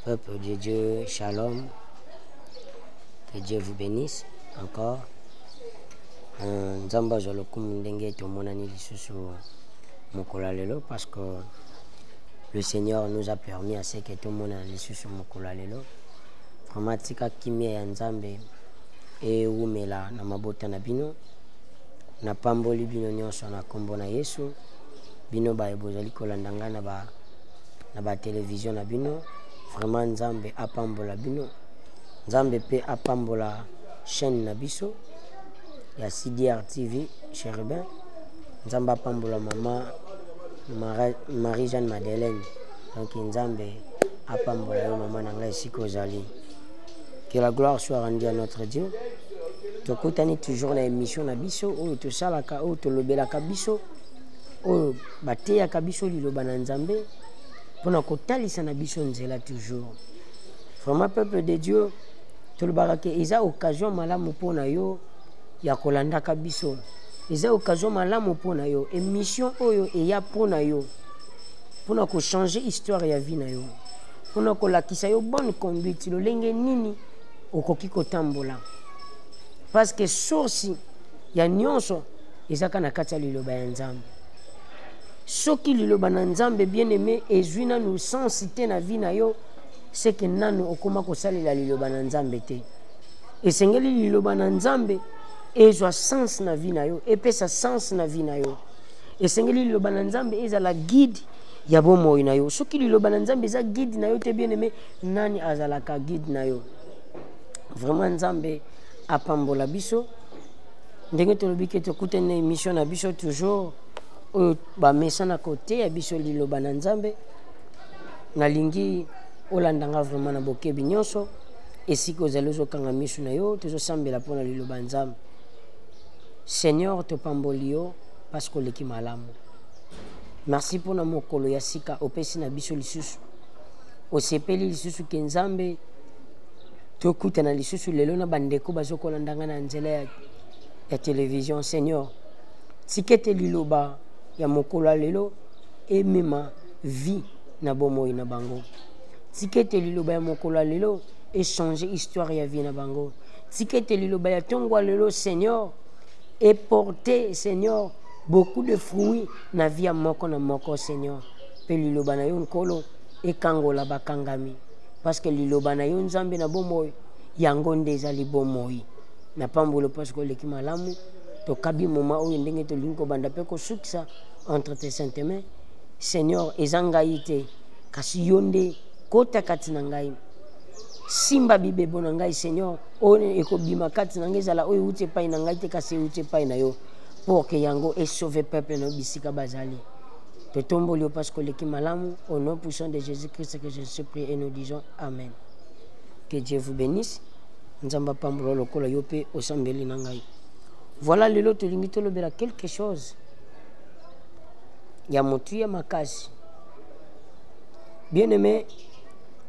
Peuple de Dieu, shalom. Que Dieu vous bénisse encore. Euh, nzambe azwa lokumu ndenge tomonani lisusu mokolo ya lelo parce que le seigneur nous a permis à ce que tomonana lisusu mokolo ya lelo Mama tika kimia ya Nzambe ewumela na mabota na bino. Napamboli bino nyonso na nkombo na Yesu. Bino baye bozali kolanda ngai na ba na ba television na bino, vraiment Nzambe apambola bino. Nzambe pe apambola chaîne na biso ya CDR TV Cherubin. Nzambe apambola mama Marie-Jeanne Madeleine. donc nzambe apambola yo mama na ngai esika ozali que la gloire soit rendue à notre dieu tokutani toujours na émission na biso oyo tosalaka oyo tolobelaka biso oyo bateyaka biso liloba na nzambe mpo na kotalisa na biso nzela toujours vraiment peuple de dieu tolobaka ke eza occasion malamu mpo na yo ya kolandaka biso eza occasion malamu mpo na yo émission oyo eya mpo na yo mpona kochange histoire ya vie na yo mpona kolakisa yo bonne conduite lolenge nini okoki kotambola parce que source ya nyonso ezaka na kati ya liloba ya nzambe soki liloba na nzambe bien aimé ezwi nanu sense te na vie na yo seke nanu okoma kosalela liloba na nzambe te esengeli liloba na nzambe ezwa sense na vie na yo epesa sense na vie na yo esengeli liloba na nzambe ezala guide ya bomoi na yo soki liloba na nzambe eza guide na yo te bien aime nani azalaka guide na yo vraiment nzambe apambola biso ndenge tolobi ke tokutani na émission na biso toujours oyo bamesana koteya biso liloba na nzambe nalingi olanda nga vraiment na bokebi nyonso esika ozali ozokanga misu na yo tozosambela mpo na liloba nzambe seigneur topamboli yo parce que oleki malamu merci mpo na mokolo ya sika opesi na biso lisusu osepeli lisusu ke nzambe tokutana lisusu lelo na bandeko bazokolanda ngai na nzela ya, ya televizio seigneur tika ete liloba ya mokolo ya lelo emema vie na bomoi na bango tika ete liloba ya mokolo ya lelo echange histoire ya vie na bango tika ete liloba ya ntongo ya lelo seigneur et porter seigneur beaucoup de fruits na vie ya moko na moko seigneur mpe liloba na yo nkolo ekangola bakangami parce que liloba na yo nzambe na bomoi yango nde ezali bomoi na pambolo parce que oleki malamu tokabi moma oyo ndenge tolingi kobanda mpe kosukisa entre tes sainte main seigneur eza ngai te kasi yo nde kota kati na ngai simba bibebo na ngai seigneur oyo ekobima kati na ngai ezala oyo euti epai na ngai te kasi euti epai na yo pour que yango esauve peuple na yo bisika bazali totomboli yo mpasi koleki malamu au nom puissant de jésus christ que je suis prie et nous disons amen que dieu vous bénisse nzambe apambola lokola yo mpe osambeli na ngai voilà lelo tolingi tolobela quelque chose ya motuya makasi bien aimé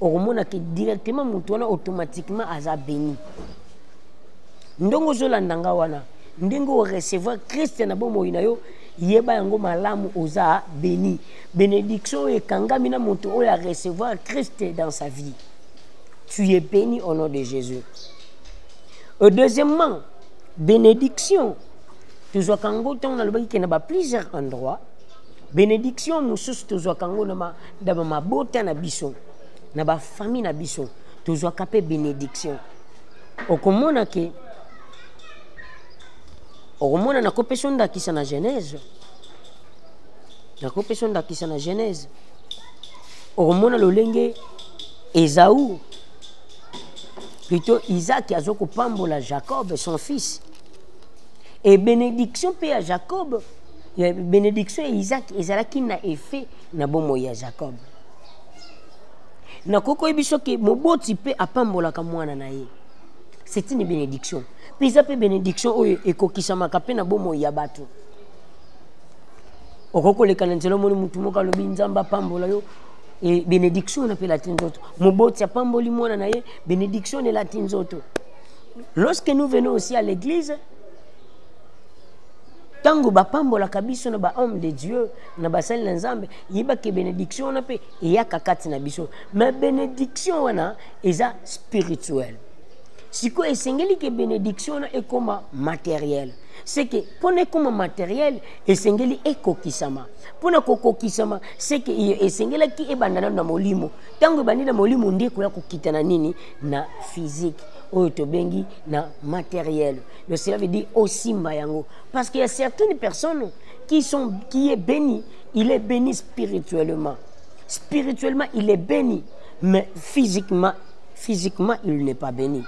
okomona ke directement moto wana automatiquement aza béni ndenge ozolanda nga wana ndenge orecevoir krist na bomoi na yo yeba yango malamu oza béni bénédiction oyo ekangami na moto oyo arecevoir krist dans sa vie tu es béni au nom de jésus euh, deuxièmement bénédiction tozwaka yango ntango nalobaki ke na ba plusieurs endroit bénédiction mosusu tozwaka yango na na bamabota na biso na bafamille na biso tozwaka mpe benediction okomona ke okomona nakopesa ondakisa na genèse nakopesa ondakisa na genèse okomona lolenge ezau plutôt isaki azo kopambola jacob son fils e benediction mpe ya jacob benediction ya isaki ezalaki na effet na bomoi ya jacob nakoki koyebi soki moboti mpe apambolaka mwana na ye c'est une bénédiction mpe eza mpe bénédiction oyo ekokisamaka mpe na bomoi ya bato okoki koleka na nzela omoni motu moko alobi nzambe apambola yo e bénédiction enapelati nzoto moboti apamboli mwana na ye bénédiction elati nzoto lorsque nous venons aussi à l'église ntango bapambolaka biso na bahomme de dieu na basali na nzambe yeba ke benediction wana mpe eyaka kati na biso ma benediction wana eza spirituel sikoyo esengeli ke benediction wana ekoma materiel seke mpo na ekoma materiel esengeli ekokisama mpo na kokokisama seke iyo esengelaki ebanda nano na molimo ntango ebandi na molimo nde ekoya kokita na nini na physique oyo tobengi na materiel donc cela veut dire osimba yango parce que ya certaines personnes qui, sont, qui est béni, il est béni spirituellement. Spirituellement, il est béni, mais physiquement, physiquement, il n'est pas béni.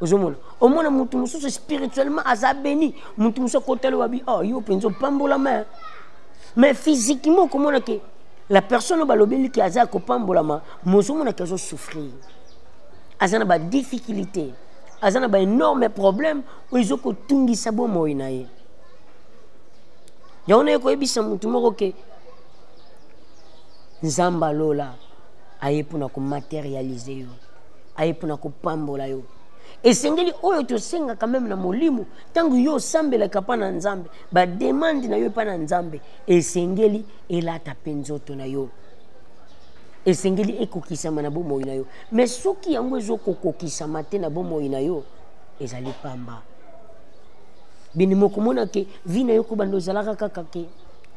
ozomona omona motu mosusu spirituellement aza béni motu mosusu akotali wabi oh yo mpenza opambolama mais physiquement okomona ke la personne oyo balobeli ke aza kopambolama mozomona ke azosouffrir aza na badifficulté aza na baénorme problème oyo ezokotungisa bomoi na ye yango naye koyebisa motu moko ke nzambe alola aye mpona komaterialize yo aye mpona kopambola yo esengeli oyo tosengaka meme na molimo ntango yo osambelaka mpa na nzambe bademande na yo epa na nzambe esengeli elata mpe nzoto na yo esengeli ekokisama na bomoi na yo me soki yango ezokokokisama te na bomoi na yo ezali pamba bende mokomona ke vi na yo kobanda ozalaka kaka ke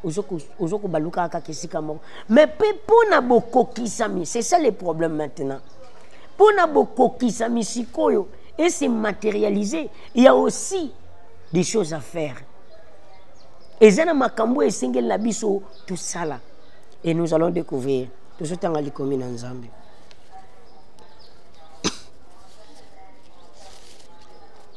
ozo kobaluka kaka ke esika moko mais mpe mpo na bokokisami c'est ça le problème maintenant mpo na bokokisami sikoyo et se matérialiser il y a aussi des choses à faire eza na makambo oyo esengeli na biso tosala et nous allons découvrir tozotanga likomi na nzambe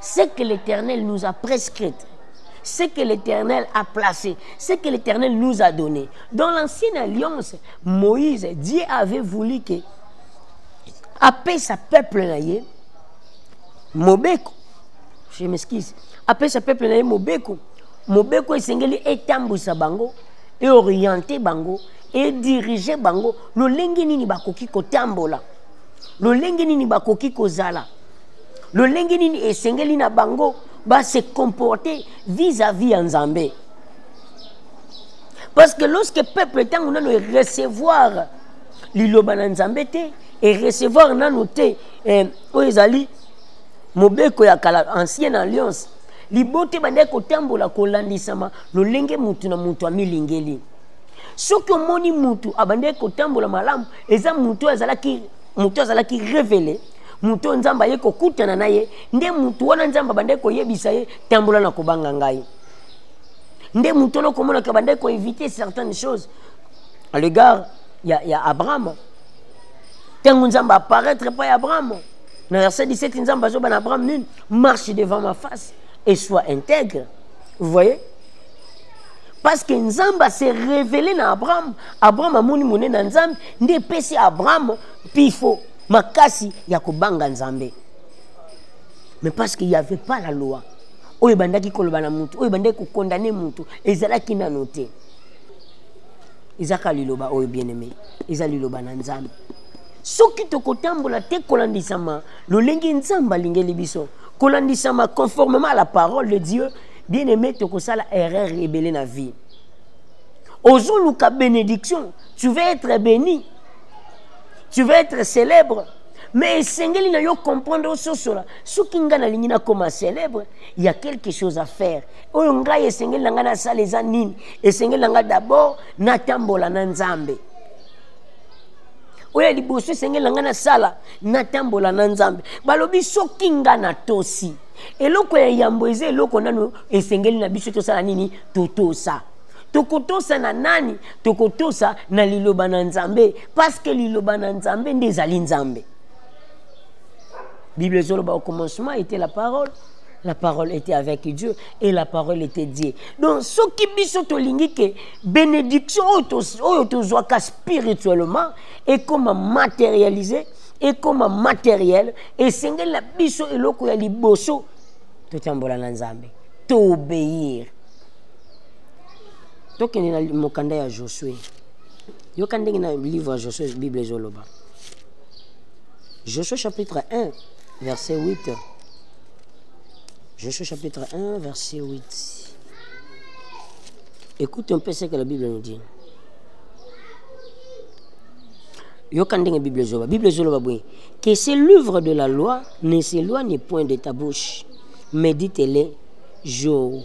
Ce que l'Éternel nous a prescrit, ce que l'Éternel a placé, ce que l'Éternel nous a donné. Dans l'ancienne alliance, Moïse, Dieu avait voulu que appeler sa peuple là, Mobeko, je m'excuse, appeler sa peuple là, Mobeko, Mobeko esengeli etambusa bango et orienter bango et diriger bango lolenge nini bakoki kotambola lolenge nini bakoki kozala lolenge nini esengeli na bango ba se comporter vis-à-vis ya nzambe parce que lorsque peuple ntango nano erecevoir liloba na nzambe te erecevoir nano te eh, oyo ezali mobeko ya kala ancienne alliance libota ebandaki kotambola kolandisama lolenge motu na motu amilingeli soki omoni motu abandaki kotambola malamu eza motu azalaki motu azalaki revele moto oyo nzambe aye kokutana na ye nde moto wana nzambe abandaki koyebisa ye tambola na kobanga ngai nde moto wana okomonaka abandaki koevite certaines choses à l'égard ya, ya abrahama ntango nzambe apparaître epai ya abrahama na verset 17 nzambe azoba na abraham nini marche devant ma face et soit intègre vous voyez parce que nzambe ase révélé na abraham abraham amoni monene na nzambe nde epesi abraham pifo makasi ya kobanga nzambe mais parce qu'il y avait pas la loi oyo ebandaki koloba na motu oyo ebandaki kokondane motu ezalaki nano te ezaka liloba oyo bien aimé eza liloba na nzambe soki tokotambola te kolandisama lolenge nzambe alingeli biso kolandisama conformément à la parole de dieu bien aimé tokosala erreur ebele na vie ozoluka bénédiction tu veux être béni tu veux être célèbre mais esengeli na yo comprendre ososola soki ngai nalingi nakoma célèbre ya quelque chose à faire oyo ngai esengeli na ngai nasala eza nini esengeli na ngai d'abord natambola na nzambe oyo ya liboso esengeli na ngai nasala natambola na nzambe balobi soki ngai natosi eloko ya yambo eza eloko nano esengeli na biso tosala nini totosa tokotosa na nani tokotosa na liloba na nzambe paske liloba na nzambe nde ezali nzambe bible ezoloba au commencement était la parole la parole était avec dieu et la parole était dieu donc soki biso tolingi ke bénédiction oyo tozwaka spirituellement ekoma matérialise ekoma matériel esengeli na biso eloko ya liboso totambola na nzambe toobéir tokende na mokanda ya josue yoka ndenge na livre ya josue bible ezoloba josue chapitre 1 verset 8 josue chapitre 1 verset 8 écoute un peu ce que la bible nous dit yoka ndenge bible ezoloba bible ezoloba boye que ce livre de la loi ne s'éloigne point de ta bouche médite-le jour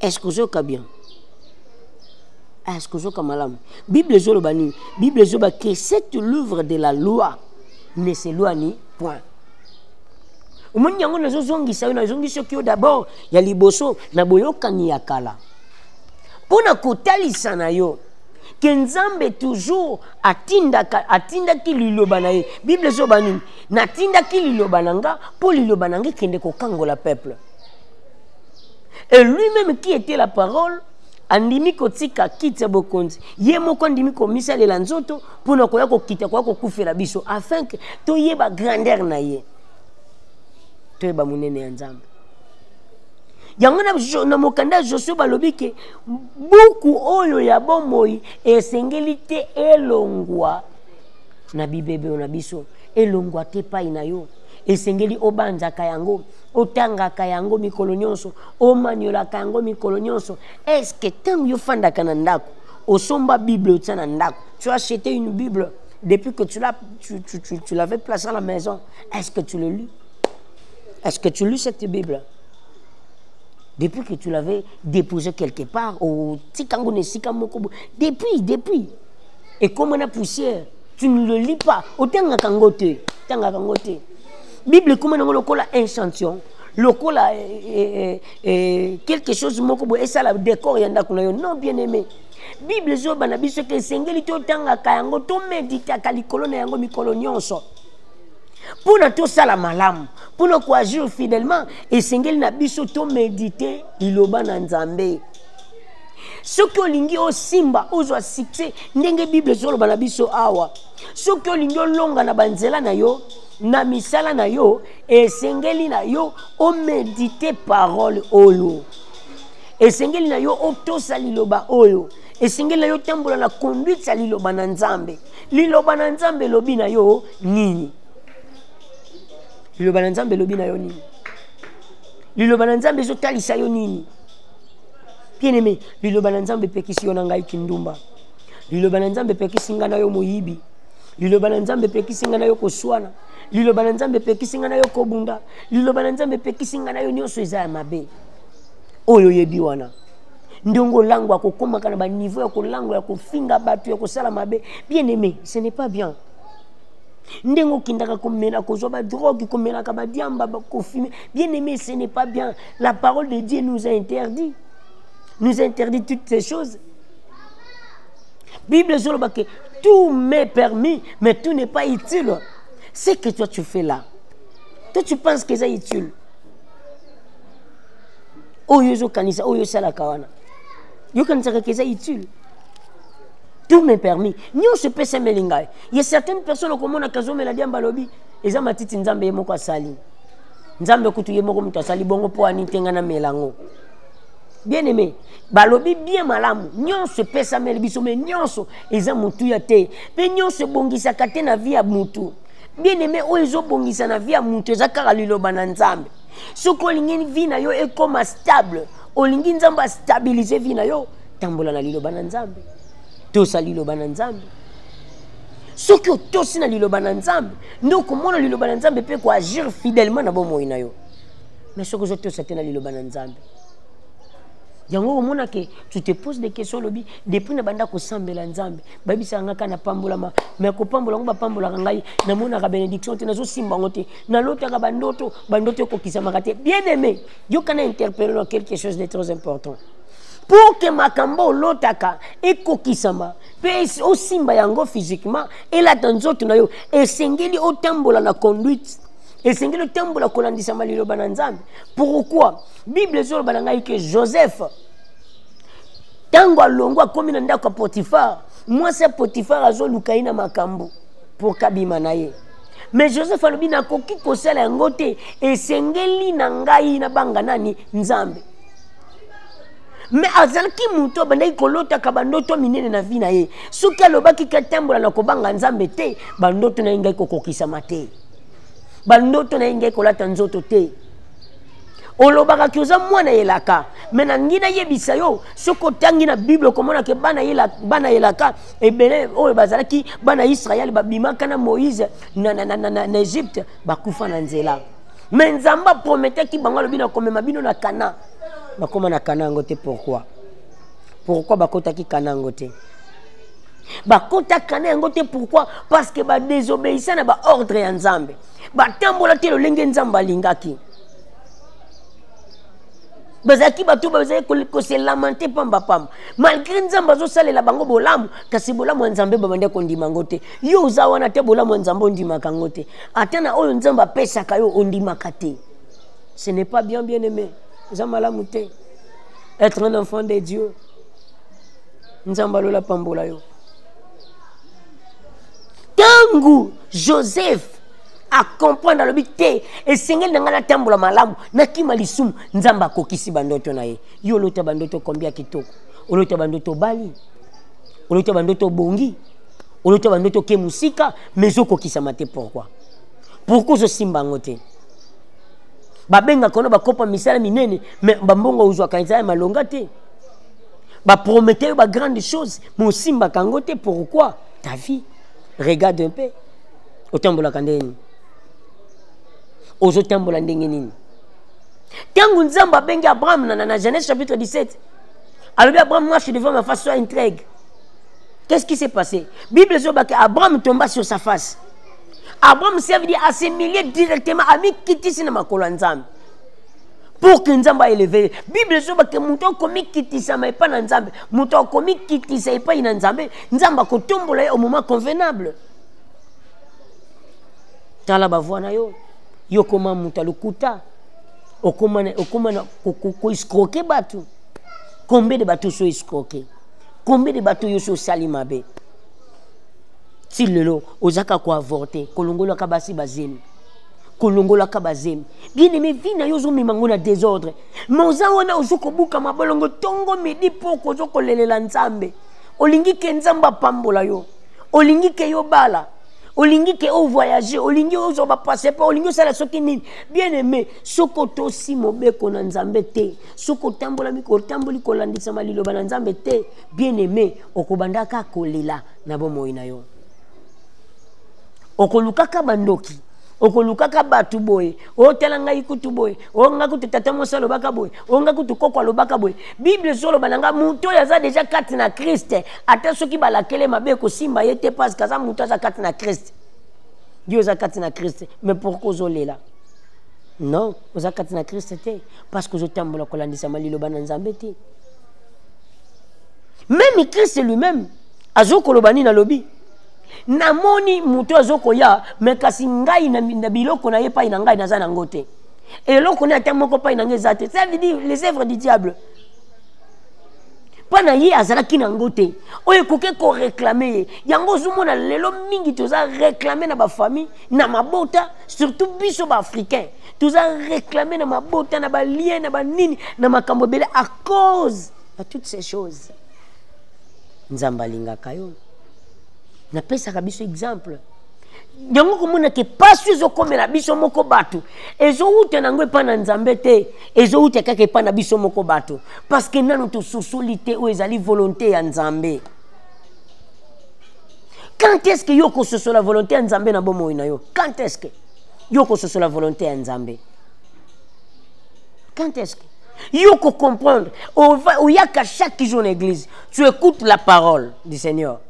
est-ce que ozoyoka bien est-ce que ozoyoka malamu bible ezoloba nini bible ezoloba que cette l'œuvre de la loi ne s'éloigne point omoni yango nazozongisa yo nazongisi soki yo d'abord ya liboso na boyokani ya kala mpo na kotalisa na yo ke nzambe toujours atindaka atindaki liloba na ye bible ezoba nini natindaki liloba na nga mpo liloba na nga ekende kokangola peuple Et lui-même qui était la parole, andimi kotika kiti ya bokonzi ye moko andimi komisalela nzoto mpo na koya kokita koya kokufela biso afin ke toyeba grandeur na ye toyeba monene ya nzambe yango na mokanda ya josue balobi ke buku oyo ya bomoi esengeli te elongwa na bibebe na biso elongwa te epai na yo esengeli obanzaka yango otangaka yango mikolo nyonso omaniolaka yango mikolo nyonso estce ntango yo ofandaka na ndako osomba bible otya na ndako tu as acheté une bible depuis que tu l'as tu, tu, tu, tu l'avais placé à la maison est-ce que tu le lis est-ce que tu lis cette bible depuis que tu l'avais déposé quelque part au tikango ne sikango depuis depuis et comme on a poussière tu ne le lis pas otangaka yango te tangaka yango te bible ekoma nango lokola inchantion lokola eh, eh, eh, quelque chose moko boye esala décor ya ndako na yo non bien aimé bible ezoyeba na biso ke esengeli totangaka yango tomeditaka likolo na yango mikolo nyonso mpo na tosala malamu mpo na koagir fidèlement esengeli na biso tomedite liloba na nzambe soki olingi osimba ozwa succès ndenge bible ezoloba na biso awa soki olingi olonga na banzela na yo na misala na yo esengeli na yo omedite parole oyo esengeli na yo otosa liloba oyo esengeli na yo otambola na conduite ya liloba na nzambe liloba na nzambe elobi na yo nini liloba na nzambe elobi na yo nini liloba na nzambe ezotalisa yo nini bien aime liloba na nzambe epekisi yo na ngai kindumba liloba na nzambe epekisi ngai na yo moyibi liloba na nzambe epekisi ngai na yo koswana liloba na nzambe epekisi ngai na yo kobunda liloba na nzambe epekisi ngai na yo nyonso eza ya mabe oyo oyebi wana ndenge olangwa kokomaka na baniveau ya kolangwa ya kofinga bato ya kosala mabe bien aimé ce n'est pas bien ndenge okendaka komela kozwa badrogue komelaka badiamba kofime bien aimé ce n'est pas bien la parole de dieu nous a interdit nous a interdit toutes ces choses Bible ezoloba que tout m'est permis, mais tout n'est pas utile. Ce que toi tu fais là, toi tu penses que c'est utile. Oyo zo kanisa, oyo sala kawana. Yo kanisa que c'est utile. Tout m'est permis. Nyo se pesa melingai. Il y a certaines personnes comme on a kazo meladi ambalobi, eza matiti nzambe yemoko asali. Nzambe kutu yemoko mutu asali bongo po ani tenga na melango. bien aimé balobi bien malamu nyonso epesameli biso me nyonso eza motuya te mpe nyonso ebongisaka te na vi ya motu bien aimé oyo ezobongisa na vi ya motu eza kaka liloba na nzambe soki olingi vi na yo ekoma stable olingi nzambe astabilize vi na yo tambola na liloba na nzambe tosa liloba na nzambe soki otosi na liloba na nzambe nde okomona liloba na nzambe mpe koagir fidèlement na bomoi na yo mais soki ozotosa te na liloba na nzambe yango okomona ke tu te pose des questions olobi depuis na banda kosambela nzambe bayebisaka ngai kaka napambolama mai kopambola yango bapambolaka ngai namonaka bénédiction te nazosimba yango te nalotaka bandoto bandoto ekokisamaka te bien aimé yoka na interpelle na quelque chose de très important pour que makambo olotaka ekokisama mpe osimba yango physiquement elata nzoto na yo esengeli otambola na conduite esengeli otambola kolandisama liloba na nzambe pourquoi bible ezoloba na ngai ke joseph ntango alongwa akomi na ndako ya potifare mwasi ya potifare azoluka ye na makambo mpo kabima na ye mais joseph alobi nakoki kosala yango te esengeli na ngai nabanga nani nzambe mais azalaki moto abandaki kolotaka bandoto minene na vi na ye soki alobaki katambola na kobanga nzambe te bandoto na ye ngai kokokisama te bandoto na ye ngai kolata nzoto te olobaka ke oza mwana elaka me nangi nayebisa yo soki otangi na bible okomona ke bana elaka ebele oyo bazalaki bana israele babimaka na moïse na, na, na, na, na, na egypte bakufa na nzela me nzambe aprometaki bango alobi nakomema bino na kana bakoma na kana yango te pourkui pourkui bakotaki kana yango te bakotaka na yango te pourkui parce que badesobeyisa na baordre ya nzambe batambola te lolenge nzambe alingaki bazalaki bato bazali kose lamante pamba pamba malgré nzambe azosalela bango bolamu kasi bolamu ya nzambe babandaki kondima yango te yo oza wana te bolamu ya nzambe ondimaka yango te ata na oyo nzambe apesaka yo ondimaka te ce n'est pas bien bien aimé eza malamu te être un enfant de dieu nzambe alola pambola yo ntango joseph acomprendre alobi te esengeli na ngai natambola malamu nakima lisumu nzambe akokisi bandoto na ye yo olota bandoto kombia kitoko olota bandoto obali olota bandoto obongi olota bandoto oke mosika ma ezokokisama te pourkui pourkui ozosimba yango te babengaka ono bakopa misala minene me bambongo ozwaka eza ya malonga te Ba prometteur ba grande chose, mais osimba kango te pourquoi? Ta vie. Regarde un peu. Otambola kandeni. Ozo tambola ndenge nini? Tango Nzamba bengi Abraham na na Genèse chapitre 17. Alors Abraham marche devant ma face soit intrigue. Qu'est-ce qui s'est passé? Bible dit que Abraham tomba sur sa face. Abraham s'est dit assimilé directement à mi kitisi na makolo Nzamba. pour que nzambe aeleve ye bible ezoba ke moto akomikitisama epai na nzambe moto akomikitisa epai na nzambe nzambe akotombola ye au moment convenable tala bavoi na yo yo okoma moto ya lokuta okoma na koescroke bato combien de bato osi oescroke combien de bato yo osi osali mabe ti lelo ozaka koavorte kolongolaka basi bazemi kolongolaka bazemi bien aime vi na yo ozomema yango na désordre ma oza wana ozo kobuka mabolongo ntongo midi poko ozo kolelela nzambe olingi ke nzambe apambola yo olingi ke yo bala olingi ke o voyage olingi ozwa bapasseport olingi osala soki nini bien aime soki otosi mobeko na nzambe te soki otambolami otamboli kolandisama liloba na nzambe te bien aime okobandaka kolela na bomoi na yo okolukaka bandoki okolukaka bato boye otala oh, ngai kutu boye o oh, ngai kutu tata mosi alobaka boye o oh, ngai kutu koko alobaka boye bible ezoloba na ngai moto oyo aza deja kati na kriste ata soki balakele mabe ekosimba ye te parceke aza moto aza kati na kriste yo oza kati na kriste mais pourkui ozolela non oza kati na kriste te parceke ozotambola kolandisama liloba na nzambe te meme kriste lui-même azokoloba nini alobi namoni moto azo koya me kasi ngai na, na biloko na ye epai na ngai naza nango te eloko ne ata moko epai na ngai eza te ça veut dire les œuvres du diable mpo na ye azalaki na yango te oyo ekoki koreklame ye yango ozomona lelo mingi toza reklame na bafamille na mabota surtout biso baafricain toza reklame na mabota na balien na banini na makambo ebele à cause ya toutes ces choses nzambe alingaka yo napesaka biso exemple yango komona ke mpasi ezokomela biso moko bato ezowuta na yango epai na nzambe te ezowuta kaka epai na biso moko bato parce que nano tososoli te oyo ezali volonté ya nzambe quand est ce que yo okososola volonté ya nzambe na bomoi na yo quand est ce que yo okososola volonté ya nzambe quand est ce que Yo ko comprendre. Oyaka chaque jour na église. Tu écoutes la parole du Seigneur.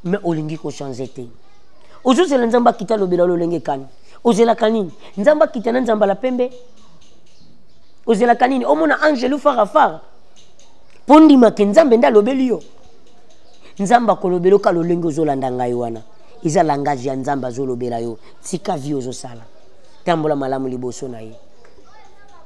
Mais olingi ko changer te. Ozozela nzambe akita lobela lolenge kani. Ozelaka nini? Nzambe akita na nzamba la pembe. Ozelaka nini? Omona angelu fara fara. Mpo ndima ke nzambe nde alobeli yo. Nzambe akolobela oka lolenge ozolanda ngai wana. Eza langage ya nzambe azolobela yo. Tika vie ozosala. Tambola malamu liboso na ye.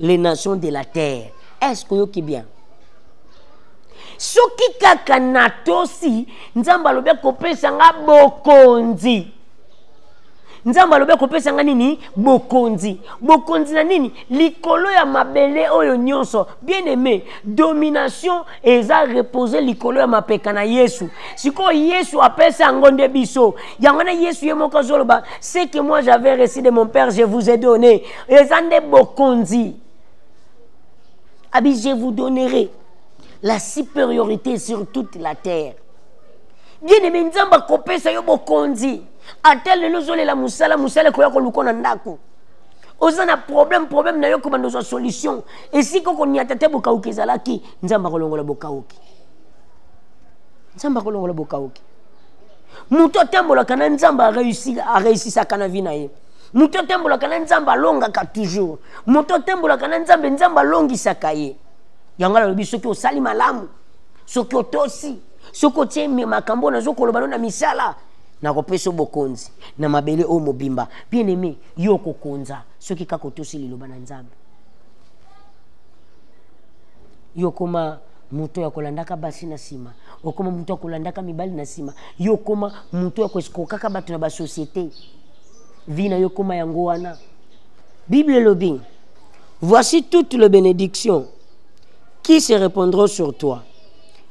les nations de la terre est ce que oyoki bien soki kaka natosi nzambe alobi akopesa nga bokonzi nzambe alobi akopesa nga nini bokonzi bokonzi na nini likolo ya mabele oyo nyonso bien aimé domination eza repose likolo ya mapeka na yesu sikoyo yesu apesa yango nde biso yango na yesu ye moko azoloba ce que moi j'avais reçu de mon père je vous ai donné eza nde bokonzi abi je vous donnerai la supériorité sur toute la terre bien aimé nzambe akopesa yo bokonzi ata lelo ozolela mosala mosala ekoya koluka na ndako oza na problème problème na yo kobanda ozwa solution esika okonyata te bokauki ezalaki nzambe akolongola bokauki nzambe akolongola bokauki moto atambolaka na nzambe areusisaka na vi na ye moto atambolaka na nzambe alongaka toujours moto atambolaka na nzambe nzambe alongisaka ye yango alobi soki osali malamu soki otosi soki otie makambo oyo nazokoloba no na misala nakopesa bokonzi na mabele oyo mobimba bien aime yo okokonza soki kaka otosi liloba na nzambe yo okoma moto ya kolandaka basi na nsima okoma moto ya kolandaka mibali na nsima yo okoma moto ya kokokaka bato na basosiete vie na yo ekoma yango wana bible elobi voici toutes les bénédictions qui se répondront sur toi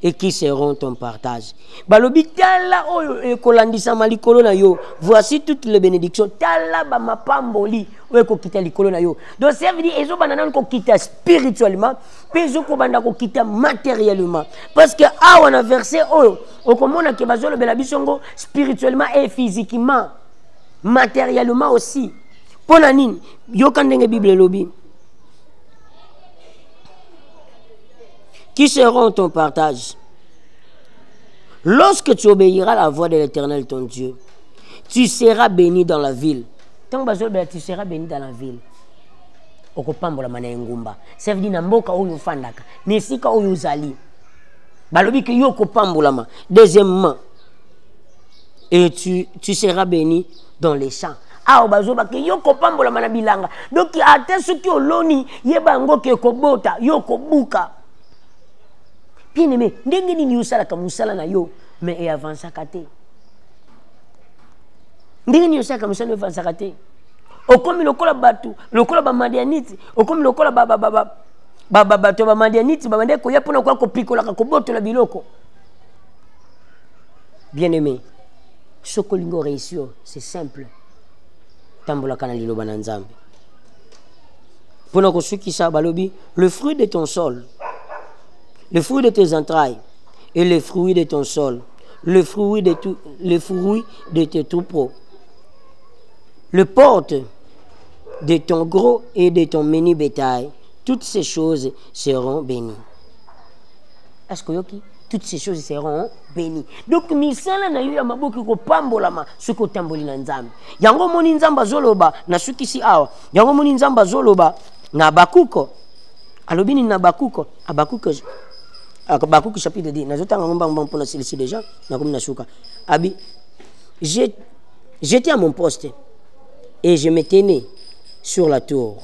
et qui seront ton partage balobi tala oyo ekolandisama likolo na yo voici toutes les bénédictions tala bamapamboli oyo ekokita likolo na yo donc ça veut dire ezobanda nanu kokita spirituellement mpe ezokobanda kokita matériellement parce que awa na verset oyo okomona ke bazolobela biso ngo spirituellement et physiquement matériellement aussi mpo na nini yoka ndenge bible elobi qui seront ton partage lorsque tu obéiras la voix de l'éternel ton dieu tu seras béni dans la ville ntango bazolobela tu seras béni dans la ville okopambolama na engumba ça veut dire na mboka oyo ofandaka na esika oyo ozali balobi ke yo okopambolama deuxièmement et tu, tu seras béni dans les champs awa bazoba ke yo kopambolama na bilanga donki ata soki oloni yeba yango ke kobota yo kobuka bien aimé ndenge nini osalaka mosala na yo mais eavansaka te ndenge nini osalaka mosala na yo eavansaka te okomi lokola bato lokola bamadianite okomi lokola bato ya bamadianite babandaki koya mpo na koya kopikolaka kobotola biloko bien aimé soki olingi oreusir c'est simple tambolaka na liloba na nzambe mpo na kosukisa balobi le fruit de ton sol le fruit de tes entrailles et le fruit de ton sol le fruit de, tout, le fruit de tes troupeaux le porte de ton gros et de ton menu bétail toutes ces choses seront bénies. Est-ce que yoki? Toutes ces choses seront bénies. Donc, misala na yo ya maboki ko pambolama ce ko tamboli na nzambe. Yango moni nzamba zoloba na sukisi awa. Yango moni nzamba zoloba na bakuko. Alobini na bakuko. Abakuko. Abakuko chapitre 10. Nazo tanga ngomba ngomba mpona silisi déjà. Nakomi na suka. Abi. J'étais à mon poste et je me tenais sur la tour.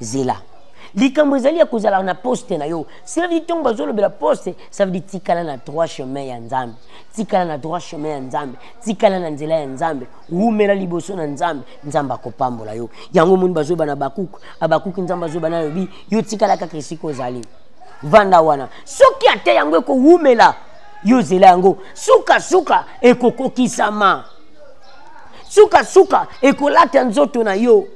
zela likambo ezali ya kozala na poste na yo cela veut dire ntango bazolobela poste ça veut dire tikala na droit chemin ya nzambe tikala na droit chemin ya nzambe tikala na nzela ya nzambe wumela liboso na nzambe nzambe akopambola yo yango omoni bazoba na bakuku abakuki nzambe azoba na lobi yo tikala kaka esika ozali vanda wana soki ata yango ekowumela yo zela yango sukasuka ekokokisama sukasuka ekolata nzoto na yo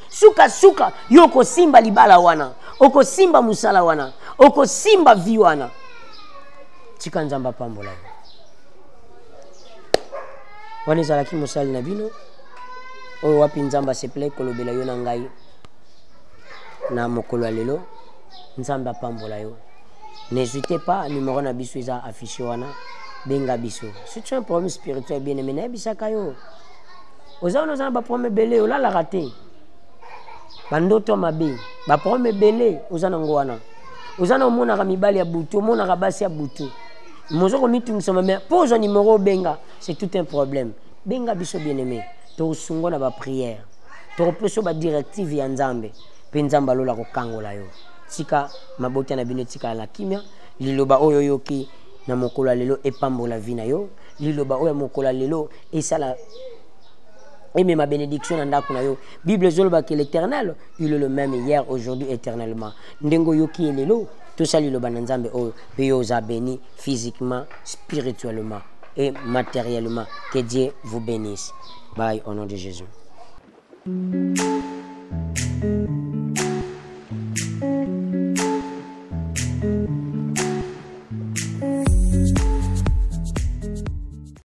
suka suka yo okosimba libala wana okosimba mosala wana okosimba vi wana tika nzambe apambola yo wana ezalaki mosali na bino oyo wapi nzambe asepele kolobela yo na ngai na mokolo ya lelo nzambe apambola yo n'hésitez pas numero na biso eza affiche wana benga biso si tu as un problème spirituel bien aimé nayebisaka yo oza wana oza na baproblème ebele olalaka te bandoto ya mabe baproblème ebele oza nango wana oza na omonaka mibali ya butu omonaka basi ya butu mozo komitungisama mai mpo ozwa nimero obenga c'est tout un problème benga biso bien aimé tokosungo na baprière tokopesa badirective ya nzambe mpe nzambe alola kokangola yo tika mabota na bino etikala na kimia liloba oyo oyoki na mokolo ya lelo epambola vi na yo liloba oyo ya mokolo ya lelo esala emema bénédiction na ndako na yo bible ezolobaka l'éternel il est le même hier aujourd'hui éternellement ndenge oyoki ye lelo tosali liloba na nzambe oyo mpe yo oza béni physiquement spirituellement et matériellement que dieu vous bénisse bye au nom de jésus mm -hmm.